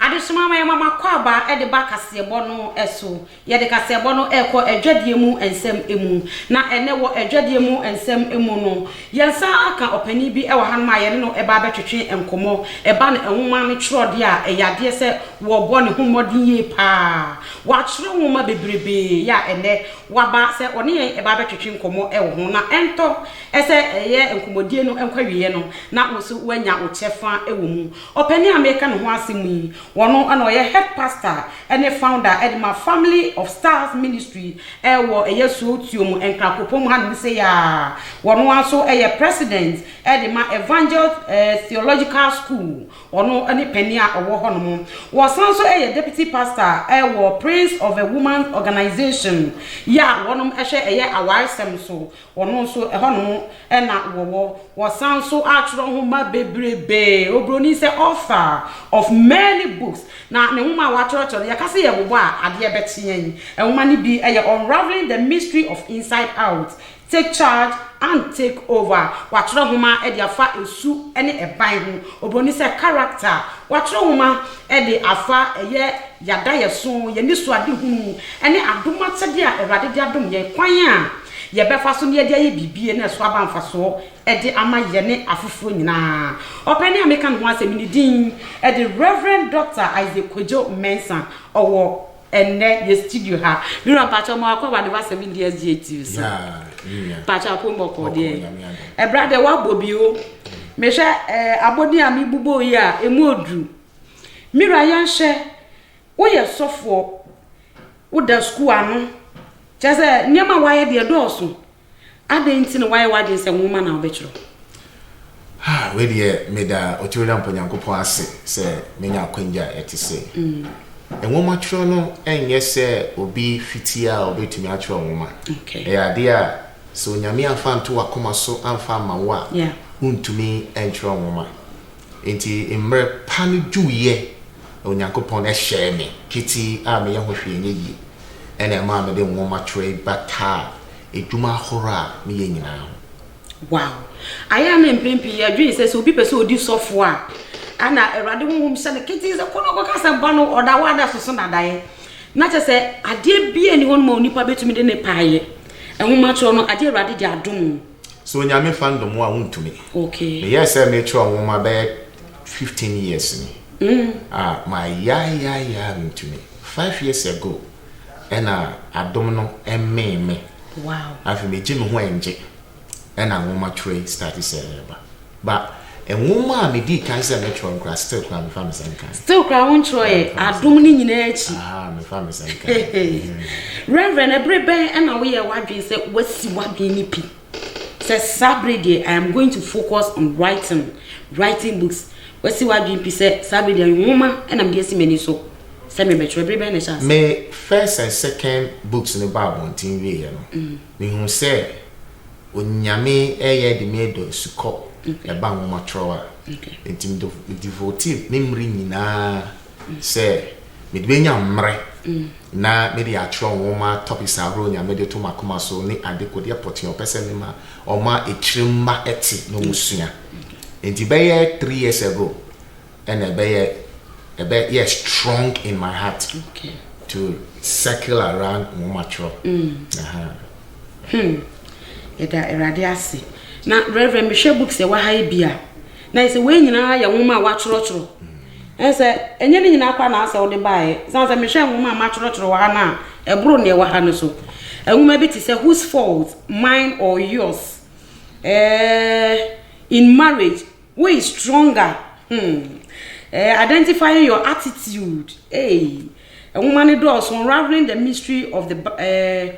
Adesoma ma yɛma m'akwaaba de ba kaseɛbɔ no so. Yɛde kaseɛbɔ no rekɔ adwadie mu nsɛm mu. Na ɛnnɛ wɔ adwadie mu nsɛm mu no, yɛnsan aka ɔpanin bi wɔ hanom a yɛne no reba abɛtwetwe nkɔmmɔ. Ɛba no nwoma no twerɛdeɛ a, ɛyɛ adeɛ sɛ wɔrebɔ ne ho mmɔden yie pa ara. Watwerɛ nwoma bebrebee yɛ a ɛnnɛ waba sɛ ɔne yɛn ɛba abɛtwetwe nkɔmmɔ ɛwɔ ho na ɛntɔ ɛsɛ ɛyɛ nkɔmmɔdie no nkɔ awieɛ no na wo nso woanya wo kyɛfa ɛwɔ mu. Ɔpanin a mereka ne ho asɛm yi, ɔno na ɔyɛ Head Pastor ɛne Founder ɛde ma Family of Stars Ministry ɛwɔ ɛyɛ Suotuom, Nkrakopomu hanom sei ara. Ɔno ara nso ɛyɛ President ɛde ma Evangel Theological School Ɔno ne panin a ɔwɔ hɔnom. Ɔsan nso yɛ Deputy Pastor wɔ Prince of a Woman Organization yɛ a wɔnom hwɛ ɛyɛ awaresɛm so. Ɔno nso ɛhɔnom na wɔwɔ. Ɔsan nso atwerɛ nwoma bebrebee. Obroni sɛ author of many books. Na ne nwoma a watwerɛtwerɛ no yɛka sɛ yɛbobɔ a adeɛ bɛkye yɛn. Nwoma no bi yɛ Unravelling the Mystery of Inside Out Take Charge and Take Over, Wɔatwerɛ nwoma de afa esu ne ɛban ho. Oburoni sɛ character, Wɔatwerɛ nwoma de afa yɛ yadaeɛso, yɛ anisoadehunu, ne adom akyɛdeɛ a Awurade de adom yɛn, kwan a yɛbɛfa so na yɛde ayɛ biribi na ɛso aba mfasoɔ de ama yɛne afoforɔ nyinaa. Ɔpanin a meka ne ho asɛm yi, ne din de Rev. Dɔkta Isaac Kwadwo Mensah. Ɔwɔ. ɛnnɛ yɛ studio ha me wura mpakyɛ ɔmo akɔ awade ba seven years gye tv so mpakyɛ apom ɔkɔ deɛ ɛbra deɛ wabɔ bi o mehwɛ ɛɛ abɔden a mebobɔ yi a emu oduru me wura yɛnhyɛ woyɛ sɔfoɔ woda sukuu ano kyɛ sɛ nneɛma wayɛ deɛ dɔɔso Adɛn nti na woayɛ w'adwene sɛ nwoma na wobɛtwerɛ? Ha, wei deɛ meda Otumwurampo Nyankopɔn ase sɛ manya akwanya a ɛte sei. Nwomatwerɛ no nyɛ sɛ obi fiti a ɔbɛtumi atwerɛ nwoma. Ɛyɛ adeɛ a sɛ Onyame amfa anto w'akoma so amfa amma wo a, wontumi ntwerɛ nwoma. Enti mmerɛ pa no duiɛ na Onyankopɔn hyɛɛ me ketee a meyɛ ho hwee nyɛ yie. Ɛna ɛmaa mede nwoma twerɛ yi bataa adwuma ahoroɔ a meyɛ nyinaa ho. Wow! Ayɛ a na mprɛn pii yɛdwen sɛ sɛ obi pɛ sɛ odi sɔfoɔ a, ɛna Awurade Honhom hyɛ no ketee sɛ kɔ na kɔka asɛmpa no ɔda hɔ a na ɛsoso nadaeɛ. Na kyerɛ sɛ adeɛ biara nni hɔ nom a onipa bɛtumi de ne pɛ ayɛ. Nwomatwerɛ no adeɛ a Awurade de adom wo. So Onyame fa ndom wo a wontumi. Me yɛɛ sɛ me twerɛ nwoma bɛyɛ fifteen years ni ah ma yaa yaa yaa me ntumi five years ago ɛna adom no ɛmee me afei me gye me ho ɛngye ɛna nwoma twerɛ yi starte sɛ ɛɛba. But nwoma a me dii kan sɛ mɛ twerɛ no koraa still koraa me fa me sɛ me kan. Still koraa wo ntwerɛ yɛ adom ne nyinaa akyi. Aha me fa me sɛ me kan. Reverend ɛbere bɛn ɛna wo yɛ wadwen sɛ wasi wadwen ne pi sɛ saa bere deɛ I am going to focus on writing writing books wasi wadwen pi sɛ saa bere deɛ nwoma ɛna mede asi m'ani so sɛ me bɛtwerɛ bere bɛn na ɛhyɛ ase. Me first and second books no ba abɔnten wie yɛ no mm. me hu sɛ. Onyame ɛyɛ de me dɔ sukɔ ɛba nwomatorɔ a nti me devote me mmere nyinaa sɛ me de bɛnya mmere na me de atwerɛ nwoma topics ahorow Nyame de to makoma so ne ade kodeɛ pɔtee ɔpɛ sɛ me ma ɔma akyire mma ɛte na ɔmo sua nti bɛyɛ three years ago ɛna ɛbɛyɛ ɛbɛ yɛ strong in my heart okay. to circle around nwoma twerɛ hmm. yɛda awurade ase na rɛvrɛ mehwɛ books ɛwɔ ha yi bi a na ɛsɛ wei nyinaa yɛ nwoma a wɔatwerɛtwerɛ ɛn sɛ ɛnyɛ ne nyinaa kora na asɛ wode baeɛ sane sɛ mehwɛ nwoma a matwerɛtwerɛ wɔ ha no a ɛboro ne ɛwɔ ha no so nwoma bi te sɛ whose fault mine or yours eh, in marriage Wo is stronger hmm eh Identifying your attitude eii Nwoma no dɔɔso Unraveling the mystery of the ba eh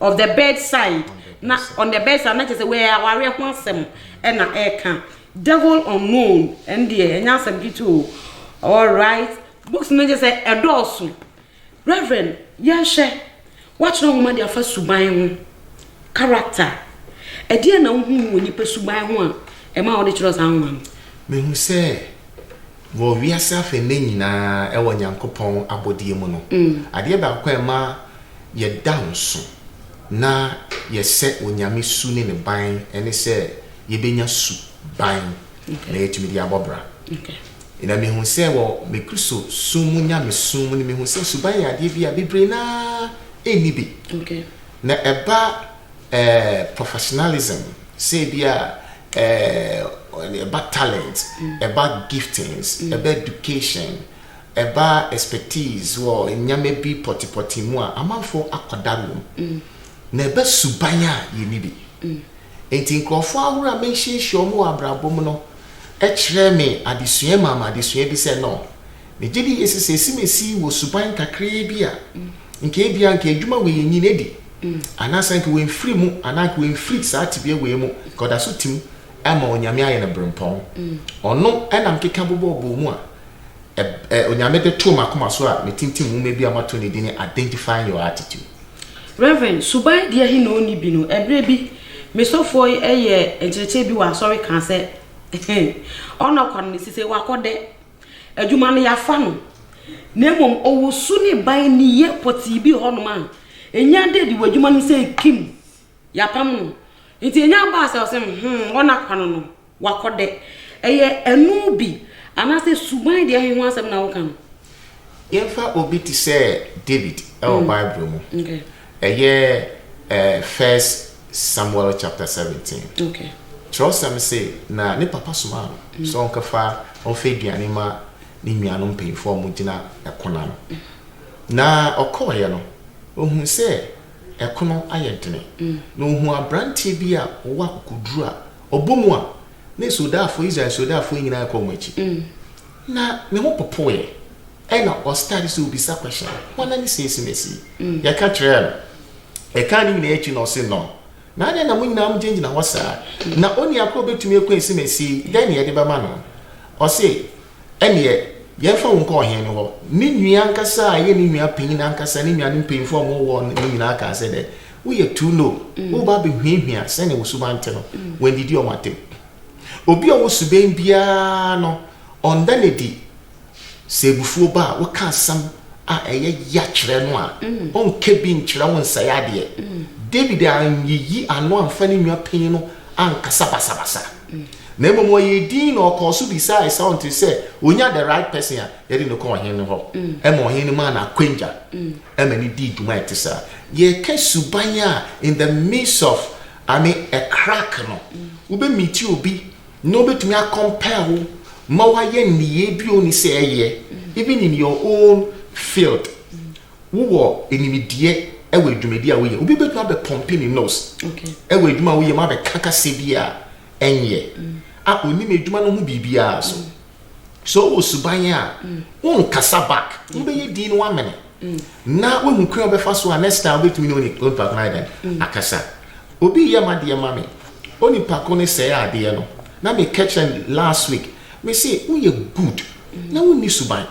Of the bedside na On the bedside na kyerɛ sɛ wei awareɛ ho asɛm na ɛreka Devil unknown ɛno deɛ ɛnyɛ asɛm ketewa o Alright Books no kyerɛ sɛ ɛdɔɔso Rev. Yɛnhwɛ, Woatwerɛ nwoma de afa suban ho, character. Ɛdeɛn na wohuu wɔ nnipa suban ho a ɛmaa wode twerɛɛ saa nwoma no? Mehu sɛ wɔ wiase afa nnɛ nyinaa wɔ Nyankopɔn abɔdeɛ mu no, adeɛ baako a ɛma yɛda nso na yɛsɛ Onyame su ne ne ban ne sɛ yɛbɛnya su ban na yɛatumi de abɔ bra. Na mehu sɛ wɔ me Kristo som mu nyamesom mu no, mehu sɛ suban yɛ adeɛ bi a bebree no ara nni bi. Na ɛba eh, professionalism, sɛ ebi a eh, ɛba talent, ɛba giftings, ɛba education, ɛba expertise wɔ nneɛma bi pɔtepɔte mu a amanfoɔ akɔdare wɔ mu. Na ɛba suban a yɛnni bi. Enti nkurɔfo ahorow a mahyiahyia wɔn wɔ abrabɔ mu no kyerɛɛ me adesua maa me adesua bi sɛ, No. Migye di sɛ sɛ esimesi wɔ suban kakraa bi a, anka ebia anka adwuma wei enyin adi, anaasɛ anka wɔamfiri mu anaa anka wɔamfiri saa tebea wei mu, anka ɔda so tim ma Onyame ayɛ no berempɔn. Ɔno na mekeka bobɔɔ bɔɔ mu a Onyame de too m'akoma so a metintim nwoma bi a mato no din Identifying Your Attitude. Rev. Suban Diahi na ɔnni bi no, ɛberɛ bi me sɔfoɔ yi yɛɛ nkyerɛkyerɛ bi wɔ asɔre kaa sɛ, Ɔnnɔ kwa no na ɛsi sɛ wakɔ dɛ. Adwuma no yɛafa no. Na mmom ɔwɔ su ne ban nniyɛ pɔtee bi wɔ hɔnom a, ɛnya ada adi wɔ adwuma no mu sɛ ɛkim, yɛapam no. Nti ɛnya baa sɛ ɔse, hmm, ɔnna kwa no no. W'akɔdɛ, ɛyɛ ɛno bi, anaasɛ suban deɛ he ho asɛm na woka no? Yɛmfa obi te sɛ David wɔ Bible mu. Ɛyɛ First Samuel chapter seventeen. Kyerɛwsɛm se na ne papa somaa no sɛ ɔnkɛfa ɔmfa aduane mma ne nuanom mpanyimfoɔ a wɔgyina ɛko no ano. Na ɔkɔeɛ no, ohuu sɛ ɛko no ayɛ dene, na ohuu aberanteɛ bi a ɔwɔ akokoduru a Ɔbɔ mu a, na asoodaafo, Israel asoodaafo nyinaa rekɔ wɔn akyi. Na ne ho popoeɛ. Ɛna ɔstarte sɛ ɔbisa question, hwan ne saa asimasi yi? Yɛka kyerɛɛ no. Yɛkaa ne nyinaa akyi na ɔse no. Na adɛn na mo nyinaa mogyinagyina hɔ saa? Na onua korɔ bɛtumi akura asimasi yi, dɛn na yɛde bɛma no? Ɔse, ɛneɛ yɛmfa wo nkɔ ɔhene no hɔ. Ne nua ankasa a ɛyɛ ne nua panyin ankasa, ne nuanom mpanyimfoɔ a wɔwɔ hɔ no nyinaa kaa sɛ dɛn? Woyɛ too low. Woreba abɛhwiahwia sɛnea wo suban te no, wɔannidi wɔn atɛm. Obi a ɔwɔ suban biara no, ɔnda no adi sɛ abufuo ba a, woka asɛm a ɛyɛ ya kyerɛ no a, ɔnka bi nkyerɛ wo nsɛe adeɛ. David anyiyi ano amfa ne nwa pii no ankasa basabasa, na mmom ɔyɛɛ dinn na ɔkɔɔ so bisaa Esau nti sɛ ɔnya the right person a, yɛde no kɔ ɔhene no hɔ, ɛma ɔhene no maa no akwangya ma no dii dwuma a ɛte saa. Yɛreka suban a in the midst of I mean a crack no, wobɛ meet obi na obetumi a compel wo ma wayɛ nneyɛe bi a onni sɛ ɛyɛ, even in your own field. Wowɔ animdeɛ wɔ adwumadi a woyɛ, obi betumi abɛ pump ne nose wɔ adwuma a woyɛ mu abɛka kasa bi a ɛnyɛ, a onim adwuma no ho biribiara so. Sɛ ɔwɔ suban a, wonkasa back, wobɛyɛ din no wamene na woahu kwan a wobɛfa so a next time wobɛtumi ne onipa ko no ayɛ dɛn akasa. Obi yɛ m'adeɛ ma me, onipa ko no sɛe adeɛ no, na meka kyerɛ no last week, mese woyɛ good na wonni suban.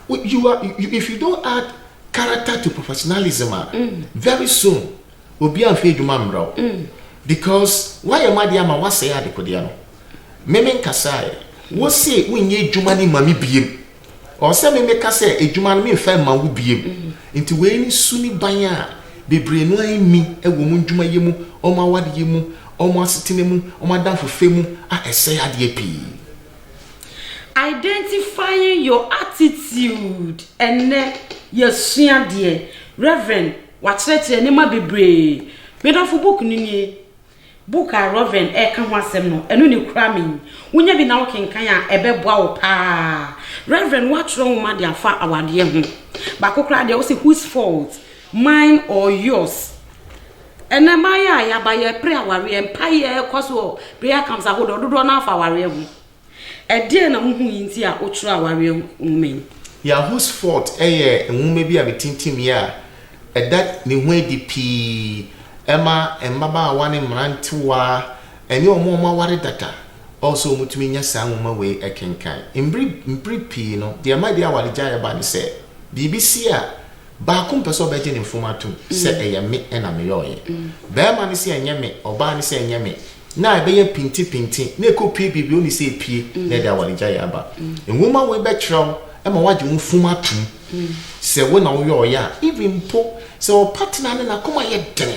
You are, you, if you don't add character to professionalism a, very soon obiara mfiri adwuma mmrɛ wo because woayɛ m'adeɛ ama woasɛe adekodeɛ no. me me nkasaeɛ. Wo se wo nyɛ adwuma no ma me biem. Ɔwɔ sɛ me me ka sɛ adwuma no me nfa ma wo biem. Nti wei ne su ne ban a bebree no ara nni wɔ wɔn adwuma yɛ mu, wɔn aware yɛ mu, wɔn asetena mu, wɔn adamfofɛ mu a ɛsɛe adeɛ pii. Identifying your attitude Ɛnnɛ yɛasua deɛ Rev. Wakyerɛkyerɛ nneɛma bebree. Me dɔfo book no nie. Book a Rev. reka ho asɛm no, ɛno na ekura me yi. Wunya bi na wokenkan a, ɛbɛboa wo paa. Rev. Woatwerɛ nwoma de afa awadeɛ ho. Baako koraa deɛ, wose Whose Fault? Mine or Yours? Ɛnnɛ, mmayewa a yɛaba, yɛrepere awareɛ. Mpaeɛ kɔ so wɔ prayer camps ahodoɔ, dodoɔ no ara fa awareɛ ho. Ɛdeɛn na wohui nti a wotwerɛ awareɛ ho nwoma yi? Yahoo's Fault yɛ nwoma bi a metintimii a ɛda ne ho adi pii ma mmabaawa ne mmerantewa ne wɔn a wɔaware dada ɔ sɛ wɔtumi nya saa nwoma wei kenkan. Mmere mpere pii no, deɛ ɛma ɛde awaregyaeɛ ba ne sɛ, biribi si a, baako mpɛ sɛ ɔbɛgye ne mfom atom sɛ ɛyɛ me na meyɔeɛ. Barima no se ɛnyɛ me, ɔbaa no se ɛnyɛ me, na ɛbɛyɛ pintepinte na ɛkɔpue biribi a ɔnni sɛ ɛpue, na ɛde awaregyaeɛ aba. Nwoma wei bɛkyerɛ wo ma woagye wo funu atom sɛ wo na woyɛ ɔyɛ a, even mpo sɛ wo partner no n'akoma yɛ den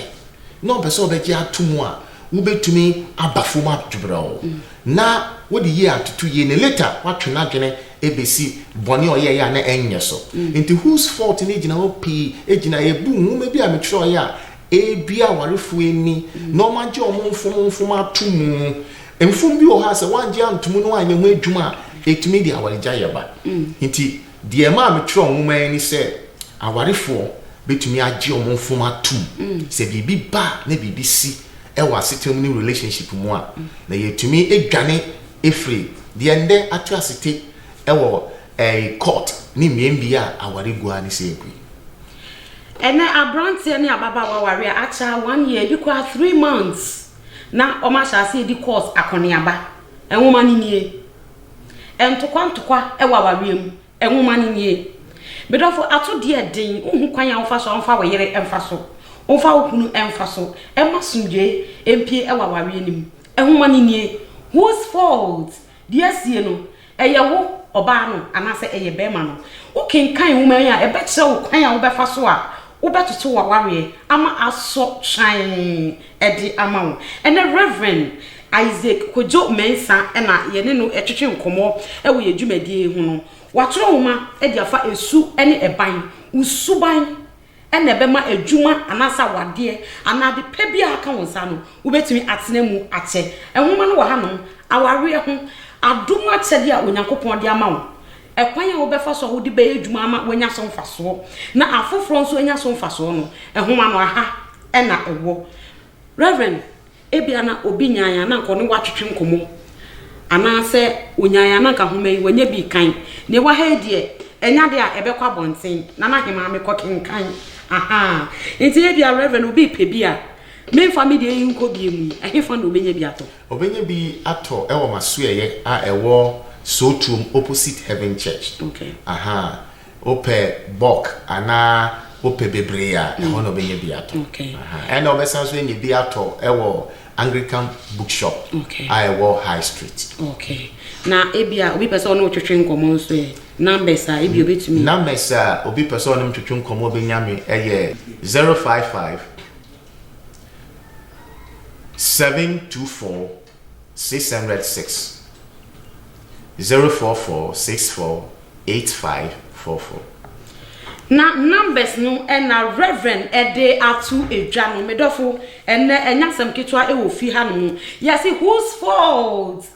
na ɔmpɛ sɛ ɔbɛgye atom a, wobɛtumi aba fam adwerɛw na wode yie atoto yie na later woatwe n'adwene ɛbɛsi bɔne a ɔyɛeɛ a na ɛnyɛ so. Nti Whose Fault no gyina hɔ pii gyina ɛbu nwoma bi a metwerɛeɛ a Ebia awarefo ani na wɔagye wɔn mfomfom ato mu. Mfom bi wɔ hɔ a sɛ wɔangye anto mu na wɔanyɛ ho adwuma a, etumi de awaregyaeɛ ba. Nti deɛ ɛmaa metwerɛ nwoma yi ne sɛ awarefoɔ bɛtumi agye wɔn mfom atom. Sɛ biribi ba a na biribi si wɔ asetena mu ne relationship mu a, na yɛtumi dwane firi deɛ nnɛ ato ase te wɔ court ne mmeammea a aware gu ara ne sɛ ɛgu yi. Ɛnnɛ aberanteɛ ne ababaawa ware a akyɛ a one year ebi koraa three months na wɔn ahyɛ aseɛ redi course akɔneaba. Nwoma no nie. Ntokwa ntokwa wɔ awareɛ mu. Nwoma no nie. Me dɔfo atodeɛ den wonhu kwan a womfa so a womfa wo yere mfa so, womfa wo kunu mfa so mma asomdwoeɛ mpue wɔ awareɛ no mu. Nwoma no nie. Whose fault? Deɛ asie no, ɛyɛ wo, ɔbaa no, anaasɛ ɛyɛ barima no. Wokenkan nwoma yi a, ɛbɛkyerɛ wo kwan a wobɛfa so a wobɛtoto w'awareɛ ama asɔ kyan de ama wo. Ɛnnɛ, Rev. Isaac Kojo Mensah na yɛne no retwetwe nkɔmmɔ wɔ yɛn dwumadie yi ho no. Watwerɛ nwoma de afa Ɛsu ne Ɛban, Wo Suban na ɛbɛma adwuma anaasɛ awadeɛ anaa ade pa biara a aka wo nsa no, wobɛtumi atena mu akyɛ. Nwoma no wɔ hanom, Awareɛ ho Adom Akyɛdeɛ a Onyankopɔn De Ama Wo, Ɛkwan a Wobɛfa So a Wode Bɛyɛ Adwuma Ama Woanya So Mfasoɔ na Afoforɔ Nso Anya So Mfasoɔ no, nwoma no ha na ɛwɔ. Rev. Ebia na obi nyae a na anka ɔne wo atwetwe nkɔmmɔ, anaasɛ onyae a na anka nhoma yi wanya bi rekan. Nea ɛwɔ ha yi deɛ, ɛnyɛ ade a ɛbɛkɔ abɔnten na na hemaa mekɔkenkan. Ahaa. Enti ebia, Rev. Obi repɛ bi a, memfa me deɛ yi nkɔ bi mu yi, ɛhefa na obenya bi atɔ? Obenya bi atɔ wɔ m'asoɛeɛ a ɛwɔ Soo Turom opposite Heaven Church. Okay. Ahaa. Wopɛ bulk anaa wopɛ bebree a, ɛhɔ na wobɛnya bi atɔ. Ɛnna wobɛsan nso anya bi atɔ wɔ Anglican Bookshop a ɛwɔ High Street. Okay. Na ebia obi pɛ sɛ ɔne wo twetwe nkɔmmɔ nso ɛ, numbers a ebia obetumi. Numbers a obi pɛ sɛ ɔne me twetwe nkɔmmɔ benya me yɛ zero five five, seven two four, Six hundred six. Zero four four six four eight five four four. Na numbers no na Rev. de ato dwa no. Me dɔfo, ɛnnɛ ɛnyɛ asɛm ketewa wɔ fie hanom. Yɛse whose fault?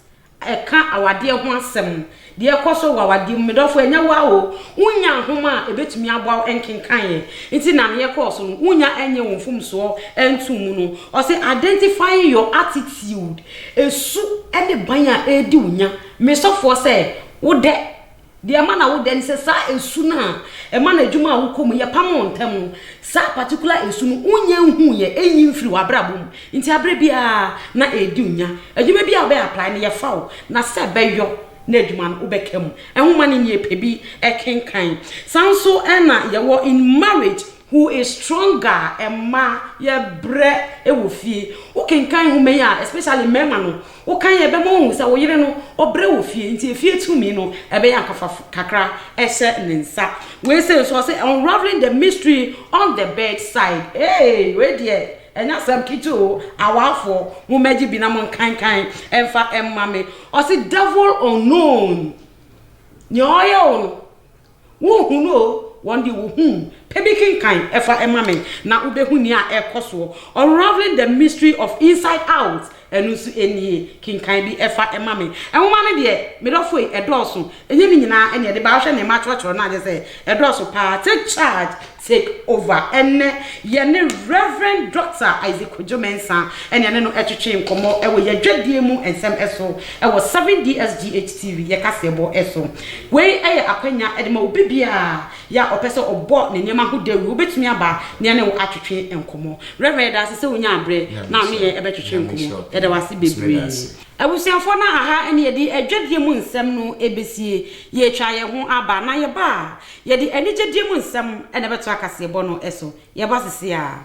Ɛka awadeɛ ho asɛm. Deɛ ɛkɔ so wɔ awadeɛ mu, me dɔfo, ɛnyɛ wo ara o, wonnya nhoma a ɛbɛtumi aboa wo nkenkaneeɛ nti na aneɛ kɔɔ so no, wonnya nyɛɛ wo mfomsoɔ ntoo mu no. Ɔse, Identifying your attitude, ɛsu ne ban a ɛredi wo nya, me sɔfoɔ, sɛ wodɛ. Deɛ ɛma na wodɛ ne sɛ saa ɛsu no a ɛma no adwuma a wokɔ mu, yɛpamoo ntɛm no, saa particular ɛsu no, wonnya nhuuiɛ, ɛnyi mfirii w'abrabɔ mu. Nti aberɛ biara na ɛredi wo nya. Adwuma biara a wobɛ apply no yɛfa wo na sɛ bɛyɔ na adwuma no wobɛka mu. Nwoma no nie, pɛ bi kenkan. Saa nso na yɛwɔ in marriage who is stronger mmaa yɛbrɛ wɔ fie. Wo kenkan nwoma yi a especially mmarima no wo kan a ɛbɛma wahu sɛ wo yere no ɔbrɛ wɔ fie nti efie tumi no ɛbɛyɛ ankafa kakra ɛhyɛ ne nsa. Wei sei nso ɔse unraveling the mystery on the bed side ee wei deɛ Ɛnyɛ asɛm ketewa o awafoɔ mo mɛgye bi na mo nkankan ɛnfa ɛmma me ɔse devil unknown nea ɔyɛ wo no wo nhu no o wɔn deɛ wɔ hu pɛ bi kenkan ɛfa ɛmma me na wo bɛ hu nea ɛkɔ soɔ unraveling the mystery of inside out Ɛno nso nie, kenkan bi fa ma me. Nwoma no deɛ, me dɔfo ei, ɛdɔɔso. Ɛnyɛ ne nyinaa na ɛde ba. Wohwɛ nea matwerɛtwerɛ no a, kyerɛ sɛ ɛdɔɔso pa ara. Take charge, take over. Ɛnnɛ, yɛne Rev. Dɔkta Isaac Kojo Mensah na yɛne no twetwe nkɔmmɔ wɔ yɛn dwadie mu nsɛm so wɔ 7DSGH TV, yɛn kaseɛbɔ so. Wei yɛ akwanya de ma obi biara Yɛ a ɔpɛ sɛ ɔbɔ ne nneɛma ho dawuru. Wobɛtumi aba na yɛne wo atwetwe nkɔmmɔ. Rev. Yɛda ase sɛ wonyaa berɛ na wo ne yɛn bɛtwetwe nkɔmmɔ. Yɛda wo ase bebree. Abusuafoɔ na aha ne yɛde adwadie mu nsɛm no bɛsie. Yɛretwa yɛn ho aba na yɛba a, yɛde anigyedie mu nsɛm na ɛbɛtoa kaseɛbɔ no so. Yɛba seseaa.